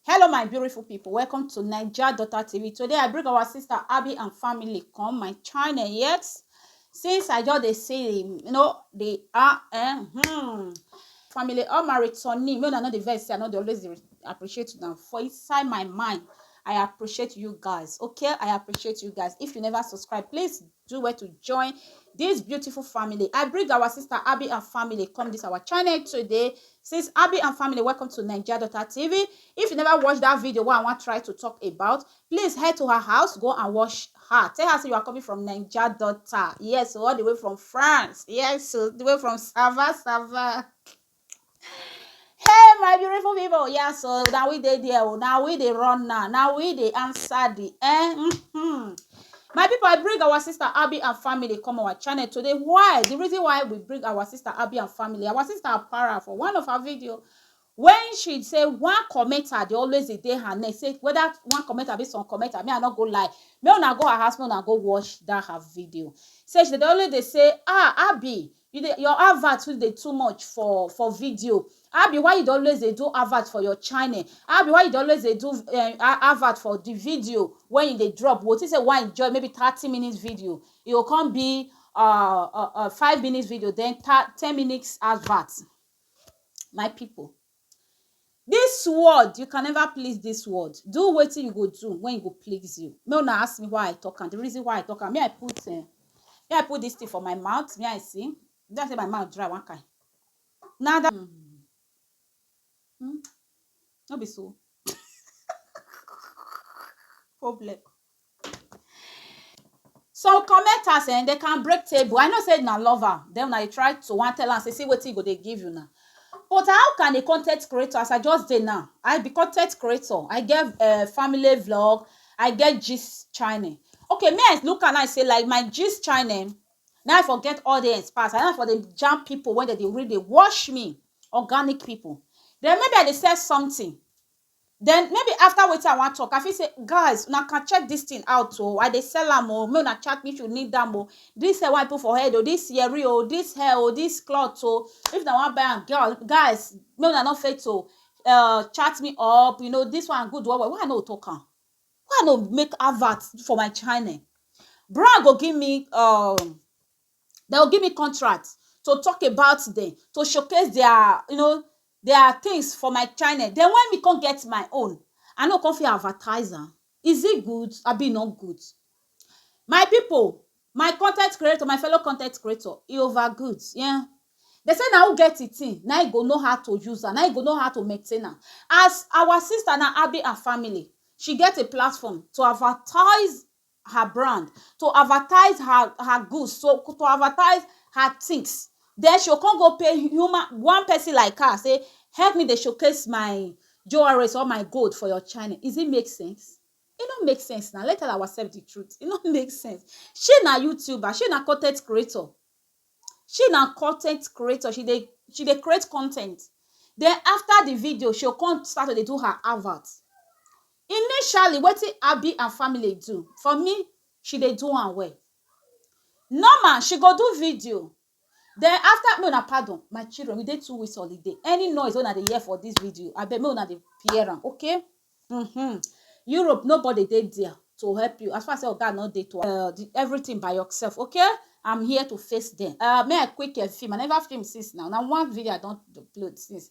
Hello my beautiful people, welcome to Naija Daughter TV. Today I bring our sister Abby and family come my channel yet. Since I just dey see them, you know, they are eh, hmm. Family, all my returning, me una no dey vex, I no dey always dey appreciate them. For inside my mind, I appreciate you guys, okay? I appreciate you guys. If you never subscribe, please do well to join this beautiful family i bring our sister abby and family come this our channel today since abby and family welcome to nigeria daughter tv if you never watch that video what i want try to talk about please head to her house go and watch her tell her so you are coming from nigeria daughter yes all the way from france yes so the way from sava sava Hey my beautiful people, yeah, so now we dey there, oh, now we dey run now, now we dey answer the eh. mhm. My people, I bring our sister Abby and family come our channel today. Why? The reason why we bring our sister Abby and family, our sister Apara for one of her video. When she say one commenter, they always dey dey her neck. Say whether one commenter be some commenter, me I no go lie. Me una go her house, me una go watch that her video. Say she dey always dey say, ah Abby, You dey your advert too dey too much for for video abi why you dey always dey do advert for your channel abi why you dey always dey do um advert for the video when you dey drop you go think say you wan enjoy maybe thirty minutes video e go come be um um five minutes video then ten minutes advert my people. Dis world, you can never please dis world. Do wetin you go do when e go please you. Make una ask me why I talk am, the reason why I talk am. Me I put um me I put dis thing for my mouth, me I see. E be like sey my mouth dry one kind. Na that um um no be so problem. some commenters um they can break table i know say na lover then una dey try to wan tell am say see wetin e go dey give una but how can a con ten t creator as i just dey now i be con ten t creator i get um family vlog i get gist channel okay me i look am now say like my gist channel na i for get audience pass and na i for dey jam people wey dem dey really dey watch me organic people then maybe i dey sell something Den maybe after wetin I wan talk I fit say guys una can check dis thing out oo I dey sell am oo make una chat me if you need am oo dis thing wey I put for head oo dis yeri oo dis hair oo dis cloth oo if una wan buy am girl guys make una no fail to um chat me up you know dis one good well well why I no go talk am why I no go make advert for my channel brand go give me um Dem go give me contract to talk about dem, to showcase their you know their things for my channel. Den when me come get my own, I no go come fit advertise am? Is it good abi e no good? My pipu, my con ten t creator, my fellow con ten t creator, e over good um. Dem say na who get e thing na im go know how to use am, na im go know how to maintain am. As our sister now, Abi and Family, she get a platform to advertise her brand, to advertise her her goods, to to advertise her tins. Den she go con go pay human one pesin like her sey help me dey showcase my jewelries or my gold for your channel. Is it make sense? E no make sense nau. Let's tell awasef di truth, e no make sense. She na youtuber, she na con ten t creator, she na con ten t creator, she dey she dey create con ten t. Den after di video, she go con start to dey do her advert. Initially wetin Abi and family do for me she dey do am well normal she go do video den after make una pardon my children we dey two weeks holiday any noise wey una dey hear for dis video abeg make una dey hear am okay um Europe nobody dey dia to help you as far as sey oga no dey to um everytin by yourself okay am here to face dem um me I quick um film I neva film since now na one video I don upload since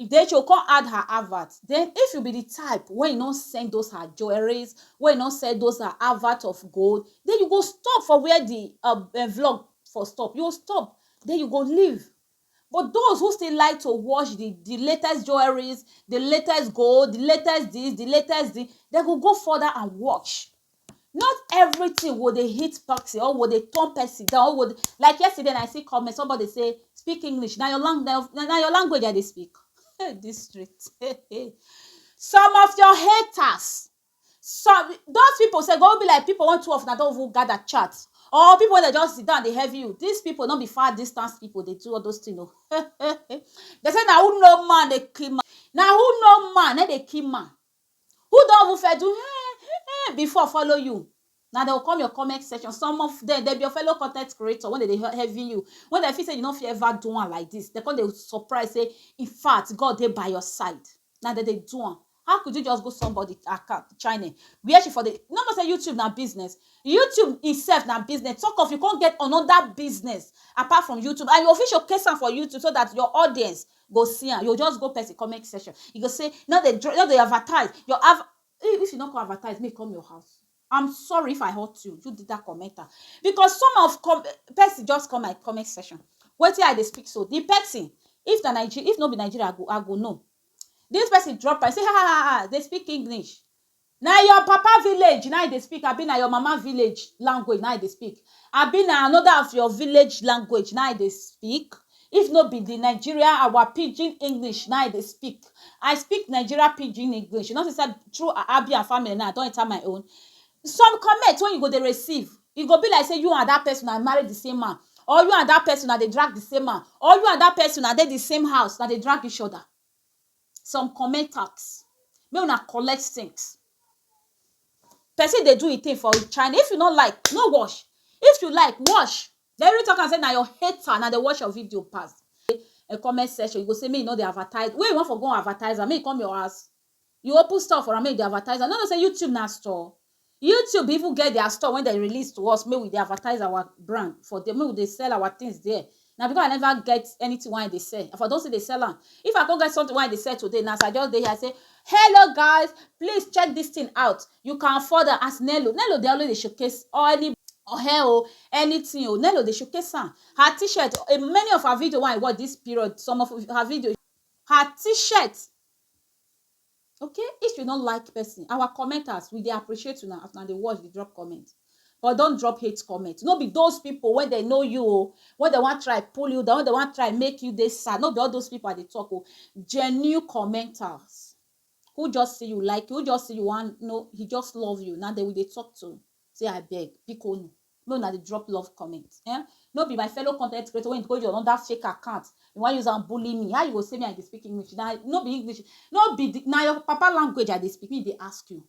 Idecho come add her advert, then if you be the type wey no send those her jewelries, wey no sell those her advert of gold, then you go stop for where the um vlog for stop, you go stop, then you go leave. But those who still like to watch the the latest jewelries, the latest gold, the latest this, the latest the, dem go go further and watch. not everything go dey hit person or go dey turn person down or go dey, like yesterday na I see comment somebody say speak English na your lang na na your language I dey speak hey this street some of your haters some those people sef go even be like people wey two of una don even gather chat or people wey dem just sit down dey heavy you this people no be far distance people dey do all those thing o dem say na who know man dey kill man na who know man na im dey kill man Who don even first do eh eh before follow you? Na dem go come your comment section, some of dem, dem be your fellow con ten t creator wey dem dey heavy you, wey dem feel sey you no fit ever do am like dis, dem come dey surprise sey in fact God dey by your side, na dem dey do am. How could you just go somebody account channel where she for dey, you no know sey YouTube na business? YouTube im sef na business, talk of you come get another business apart from YouTube and you go fit showcase am for YouTube so dat your audience go see am you go just go person comment section you go say no dey no dey advertise your av if you no come advertise make e come your house am sorry if I hurt you you that commenter because some of com person just come my comment section wetin I dey speak so the person if na Nigeria if no be Nigeria I go I go know this person drop am say um dey speak English Na your papa village na you dey speak abi na your mama village language na you dey speak abi na another of your village language na you dey speak if no be the Nigeria our pidgin English na you dey speak I speak Nigeria pidgin English you know say through Abia family now I don enter my own some comment wey you go dey receive e go be like say you and that person na marry the same man or you and that person na dey drag the same man or you and that person na dey the same house na dey drag each other some comment tax make una collect things person dey do him thing for china if you no like no watch if you like watch dey even talk am say na your hater na dey watch your video pass um comment section you go say make you no dey advertise where you wan for go advertise am make e come your house You open store for am make you dey advertise am. You no know sey YouTube na store? YouTube even get their store when dem release to us make we dey advertise our brand for there, make we dey sell our things there. Na because I never get anything wey I dey sell, I for don still dey sell am. If I con get something wey I dey sell today now, as I just dey here I say, Hello guys, please check dis thing out. You can afford am as Nello. Nello dey always dey showcase or any or hair oh, anything oh. Nello dey showcase am. Her t-shirt, many of her videos wey I watch dis period, some of her videos, her t-shirt okay if you no like person our commenters we dey appreciate una as una dey watch dey drop comment but don drop hate comment no be those people wey dey know you o wey dey wan try pull you down wey dey wan try make you dey sad no be all those people i dey talk o genuine commenters who just see you like you who just see you wan no he just love you na dem we dey talk to say abeg biko nu Make una dey drop love comment eh no be my fellow content creator wey go your under fake account you wan use am bully me how you go say me I dey speak English na no be English no be the na your papa language I dey speak me dey ask you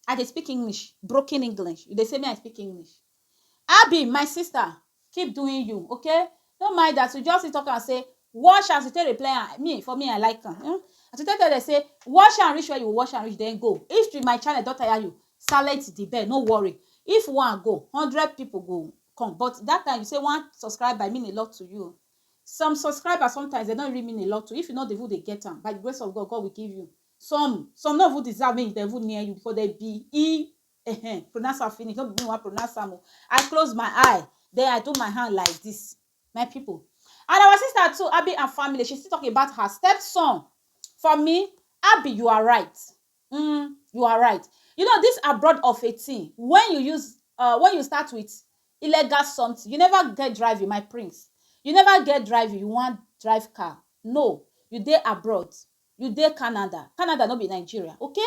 I dey speak English broken English you dey say me I speak English Abi my sister keep doing you okay no mind as you just still talk am say wash as you take reply am me for me I like am um as you take tell dem say wash am reach where you wash am reach then go if the my channel don tire you silent the bell no worry if one go hundred people go come but that time you say one subscriber mean a lot to you some subscribers sometimes they don't really mean a lot to you if you no dey even dey get am by the grace of God God will give you some some no even deserve make dem even near you because they be e Ehen, pronounce am finish, no be me wan pronounce am o. I close my eye, then I do my hand like dis. My pipu, and our sister too, Abi and family, she still talk about her step son. For me, Abi, you are right, um you are right. You know dis abroad of a thing, when you use um when you start with illegal something, you never get driving, my prince, you never get driving, you wan drive car, no, you dey abroad, you dey Canada, Canada no be Nigeria, okay?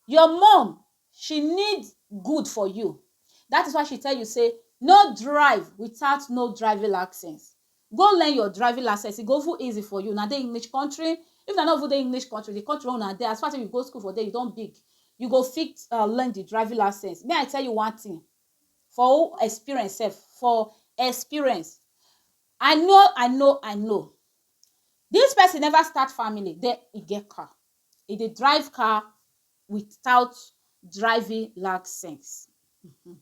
Your mum She need good for you that is why she tell you say no drive without no driving license go learn your driving license e go even easy for you na dey English country if na no even dey English country the country wey una dey as far as you go school for there you don big you go fit uh, learn the driving license may I tell you one thing for experience sef for experience I know I know I know this person never start family then e get car e dey drive car without driving license um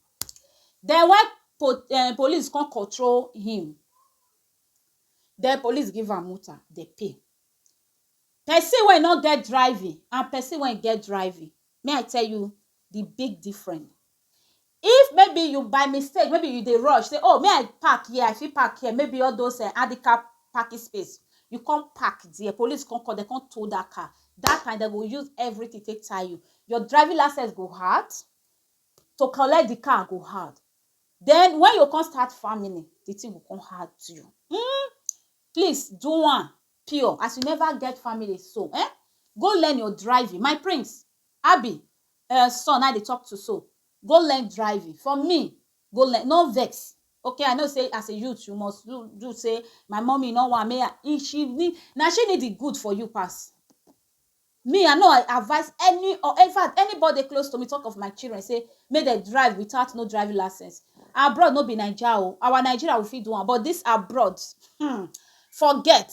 den wen po um police kon kontro him den police give am mota dey pay pesin wey no get driving and pesin wey get driving me I tell you di big difference If maybe you by mistake maybe you dey rush say oh make I park here I fit park here maybe all those um handicap parking space you come park there police come come dem come tow that car that time dem go use everything take tie you your driving licence go hard to collect the car go hard then when you come start family the thing go come hard you um please do am pure as you never get family so um go learn your driving my prince Abi Ur son na dey talk to so go learn driving for me go learn no vex ok I know say as a youth you must do do say my mummy no want make I if she need na she need the good for you pass me I no advice any or infact anybody dey close to me talk of my children say make dem drive without no driving license abroad no be naija o our Nigeria we fit do am but this abroad hmmm forget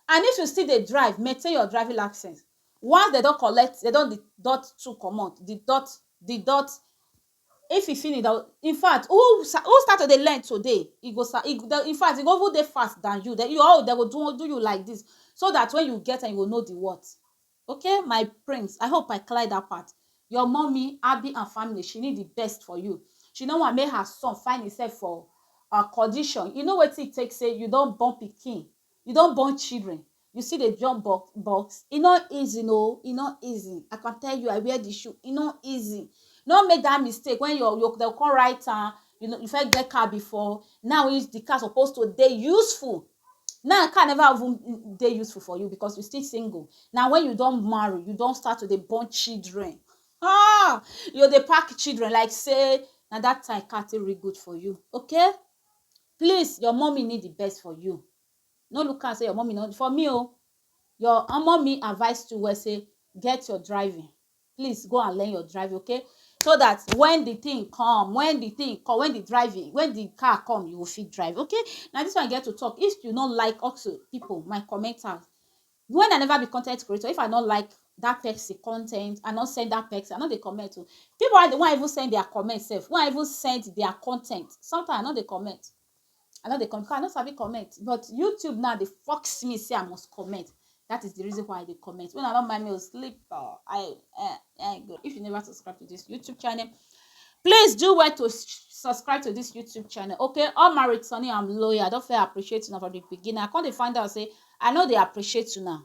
and if you still dey drive maintain your driving license Once dem don collect, dem don deduct two comot, deduct, deduct, if e finish dem go, in fact who who start to dey learn today, e go sa e go, in fact e go even dey fast dan you, den your own dem go do do you like dis so dat wen you get am you go know di what. Okay my prince, I hope I clear dat part. Your mummy abi and family she need di best for you, she no want make her son find himself for um condition, you know wetin e take sey you don born pikin, you don born children, You still dey jump box box? E no easy no, e no easy. I can tell you, I wear the shoe, e no easy. No make that mistake when your your dem come write am, you no you first get car before, now wey the car suppose to dey useful, now car never even dey useful for you because you still single. Na when you don marry, you don start to dey born children, um you go dey pack children like sey na that time car take really good for you, okay? Please, your mummy need the best for you. no look am say your mommy no for me o oh, your omo me advise to well say get your driving please go and learn your driving okay so that when the thing come when the thing come when the driving when the car come you go fit drive okay na this one i get to talk if you no like also people my commenters when i never be content creator if i no like that person content i no send that person i no dey comment o oh. people wey wan even send their comment sef wan even send their content sometimes i no dey comment I no dey comment because I no sabi comment but YouTube now dey force me say I must comment. That is the reason why I dey comment. Una no mind me o sleep o. I eh, eh, go. If you never subscribe to this YouTube channel, please do well to subscribe to this YouTube channel. Okay, all my returning, I'm loyal. I don't feel appreciate una for the beginning. I can't find out say I know they appreciate you now.